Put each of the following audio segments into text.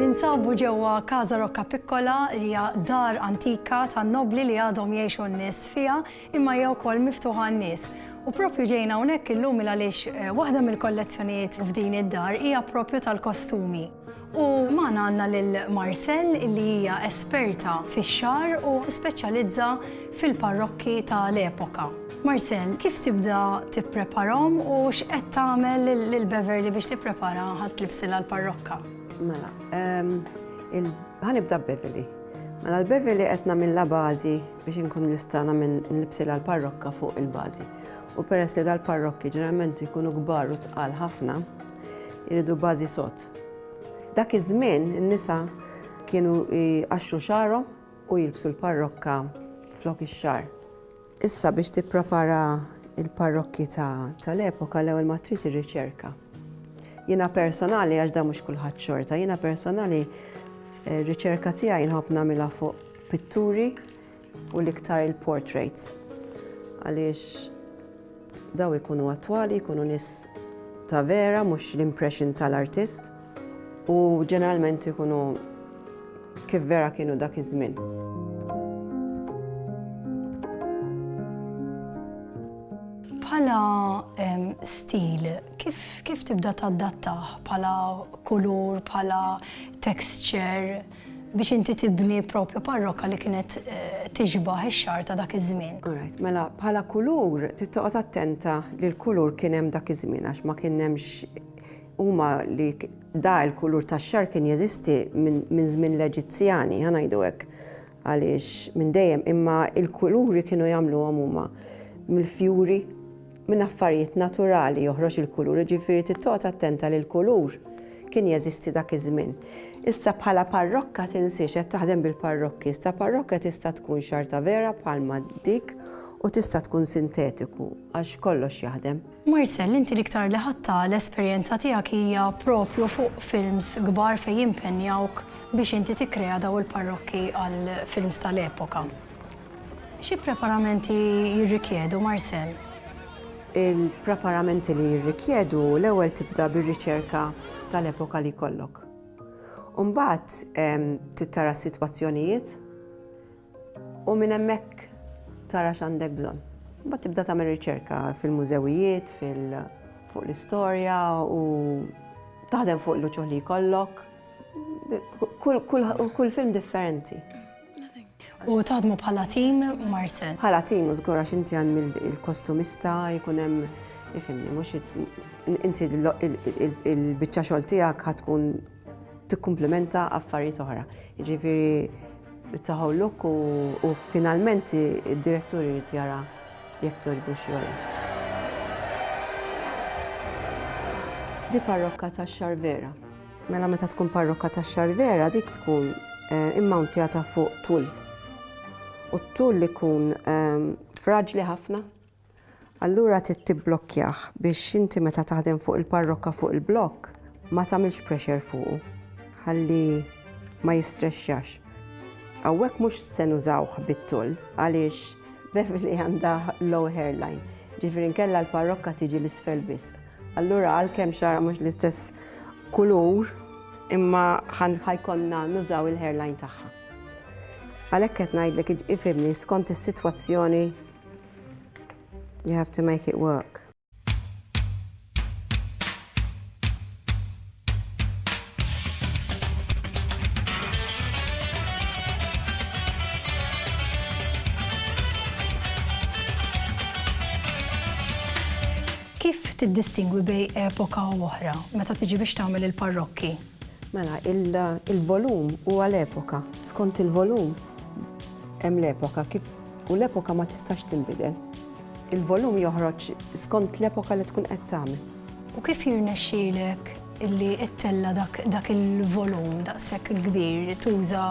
Ninsabu ġewwa Casa Roccapiccola li hija dar antika tan-nobbli li għadhom jgħixu n-nies fiha imma hija wkoll miftuħa għan-nies. U proprju ġejna hawnhekk illum il għaliex waħda mill-kollezzjonijiet f'din id-dar hija proprju tal-kostumi. U magħna għandna lil Marcelle li hija esperta fix-xagħar u tispeċjalizza fil-parrokki tal-epoka. Marcel, kif tibda tippreparahom u x'qed tagħmel lil Beverly biex tipprepara ħadd libsilha l-parrokka? Mela, ehm, ħanibda Beverly. Mela l-Beverly qed nagħmilha bażi biex inkun nista' nagħmel nlibsilha l-parrokka fuq il-bażi. U peress li dal-parrokki ġeneralment jkunu kbar u tqal ħafna, jridu bażi sot. Dak iż-żmien in-nisa kienu għaxxu xarhom u jilbsu l-parrokka flok ix-xar. Issa biex tipprepara l-parrokkji ta' l-epoka l-ewwel ma trid ir-riċerka. Jiena personali għax dan mhux kulħadd xorta, jiena personali eh, riċerka tiegħi nħobb nagħmilha fuq pitturi u l-iktar il-portraits. Għaliex Daw ikunu attwali, jkunu nies ta' vera mhux l-impression tal-artist u ġeneralment ikunu kif vera kienu dak iż-żmien. Bħala stil, kif tibda tadattah bħala kulur, bħala texture? biex inti tibni propju parrokka li kienet tixbah ix-xagħar ta' dak iż-żmien. All right, mela bħala kulur trid toqgħod attenta li l-kulur kien hemm dak iż-żmien għax ma kien hemmx huma li da l-kulur tax-xagħar kien jeżisti minn żmien l-Eġizzjani, ħa ngħidu hekk, għaliex minn dejjem, imma l-kuluri kienu jagħmluhom huma mill-fjuri Minn affarijiet naturali joħroġ il-kulur, jiġifieri trid toqgħod attenta li l-kulur kien jeżisti dak iż-żmien. Issa bħala parrokka tinsiex qed taħdem bil-parrokki, issa parrokka tista' tkun xarta vera bħalma dik u tista' tkun sintetiku għax kollox jaħdem. Marcel, inti l-iktar li ħadtha l-esperjenza tiegħek hija proprju fuq films kbar fejn jimpenjawk biex inti tikkrea dawn il-parrokki għall-films tal-epoka. Xi preparamenti jirrikjedu, Marcel? Il-preparamenti li jirrikjedu l-ewwel tibda bir-riċerka tal-epoka li jkollok. U mbagħad trid tara s-sitwazzjonijiet u minn hemmhekk tara x'għandek bżonn. Mbagħad tibda tagħmel riċerka fil-mużewijiet, fuq l-istorja u taħdem fuq l-uċuħ li jkollok. Kull film differenti. U taħdmu bħala tim Marcel. Bħala tim u żgur għax inti għan il-kostumista jkun hemm ifimni mhux inti il-biċċa xogħol tiegħek ħatkun tikkumplimenta affarijiet oħra. Jiġifieri taħu luk u finalment id-diretturi jrid jara jekk togħġbu xogħol. Di parrokka ta' xar vera. Mela meta tkun parrokka ta' xarvera dik tkun eh, immawntjata fuq tul. U t-tul li kun ehm, fraġli ħafna. Allura trid tibblokjah biex inti meta taħdem fuq il-parrokka fuq il-blokk ma tagħmilx pressure fuqu. Ħalli ma jistrexxax. Hawnhekk mhux se nużawh bit-tul għaliex Beverly għandha low hairline. Ġifieri nkella l-parrokka tiġi l-isfel biss. Allura għalkemm xara mhux l-istess kulur imma ħajkonna nużaw il-hairline tagħha. Għalhekk qed ngħidlek ifimni skont is-sitwazzjoni you have to make it work. Kif tiddistingwi bej epoka u oħra meta tiġi biex tagħmel il-parrokki? Mela, il-volum huwa l-epoka. Skont il-volum hemm l-epoka kif u l-epoka ma tistax tinbidel. Il-volum joħroġ skont l-epoka li tkun qed tagħmel. U kif jirnexxielek illi ittella' dak il-volum daqshekk kbir? Tuża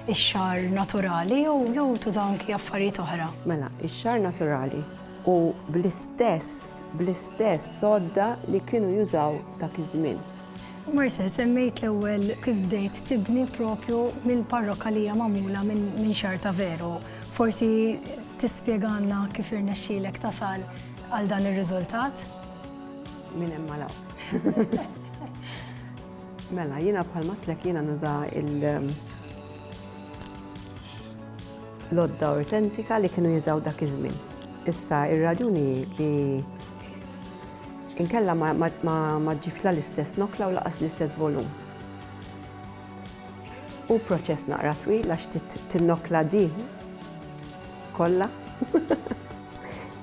x-xagħar naturali jew tuża anki affarijiet oħra? Mela, ix-xagħar naturali u bl-istess, bl-istess sodda li kienu jużaw dak iż-żmien. U Marcel, semmejt l-ewwel kif bdejt tibni proprju mill-parrokka li hija magħmula minn xagħar ta' veru. Forsi tispjegalna kif irnexxielek tasal għal dan ir-riżultat? Minn hemm għal hawn. Mela, jiena bħalma għedtlek jiena nuża il- L-għodda awtentika li kienu jużaw dak iż-żmien. Issa ir-raġuni li inkella ma ġġibx la l-istess nokla u laqas l-istess volum. U proċess naqra twil għax tinnokla di kollha.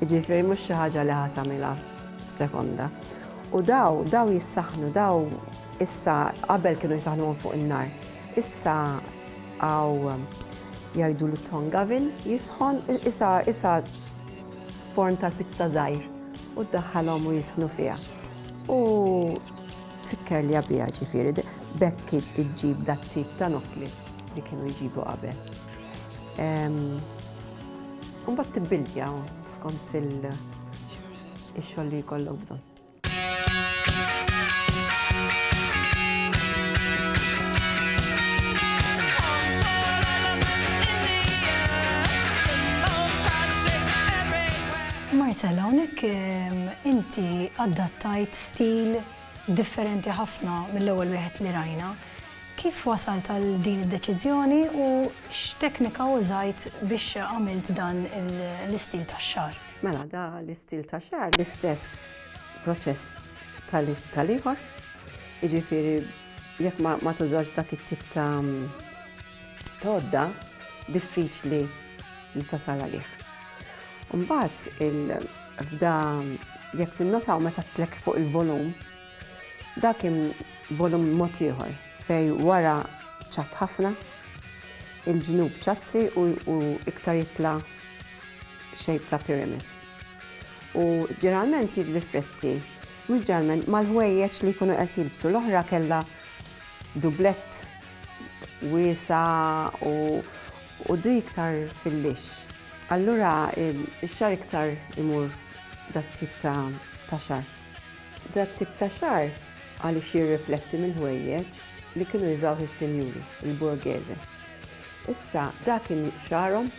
Jiġifieri mhux xi ħaġa li ħadd tagħmilha f'sekonda. U daw, daw jissaħnu, daw issa qabel kienu jisaħnuhom fuq in-nar. Issa għaw jgħidulu tong oven jisħon issa issa forn tal-pizza żgħir u ddaħħalhom u jisħnu fiha. U tikker li għabija ġifiri, bekki iġġib dat tip ta' nokli li kienu jġibu qabel. Umbat tibbilja skont il-xogħol li jkollok bżonn. Marcel, hawnhekk ehm, inti adattajt stil differenti ħafna mill-ewwel wieħed li rajna. Kif wasal tal din id-deċiżjoni u x'teknika użajt biex għamilt dan l-istil tax-xar? Mela da l-istil ta' xar l-istess proċess tal-ieħor. Jiġifieri jekk ma tużax dak it-tip ta' todda diffiċli li tasal għalih. Mbagħad il-fda jekk tinnotaw meta tlek fuq il-volum, dak volum mod ieħor fej wara ċat ħafna, il-ġnub ċatti u iktar jitla' shape ta' pyramid. U ġeneralment jirrifletti, mhux ġeneralment, mal-ħwejjeġ li jkunu qed jilbsu. L-oħra kellha dublett wiesa u u di iktar fil-lix. Allura ix-xar iktar imur dat-tip ta' ta' xar. Dat-tip ta' xar għaliex jirrifletti mill-ħwejjeġ li kienu jużawh is-sinjuri, il-borghese. Issa, da kien xarhom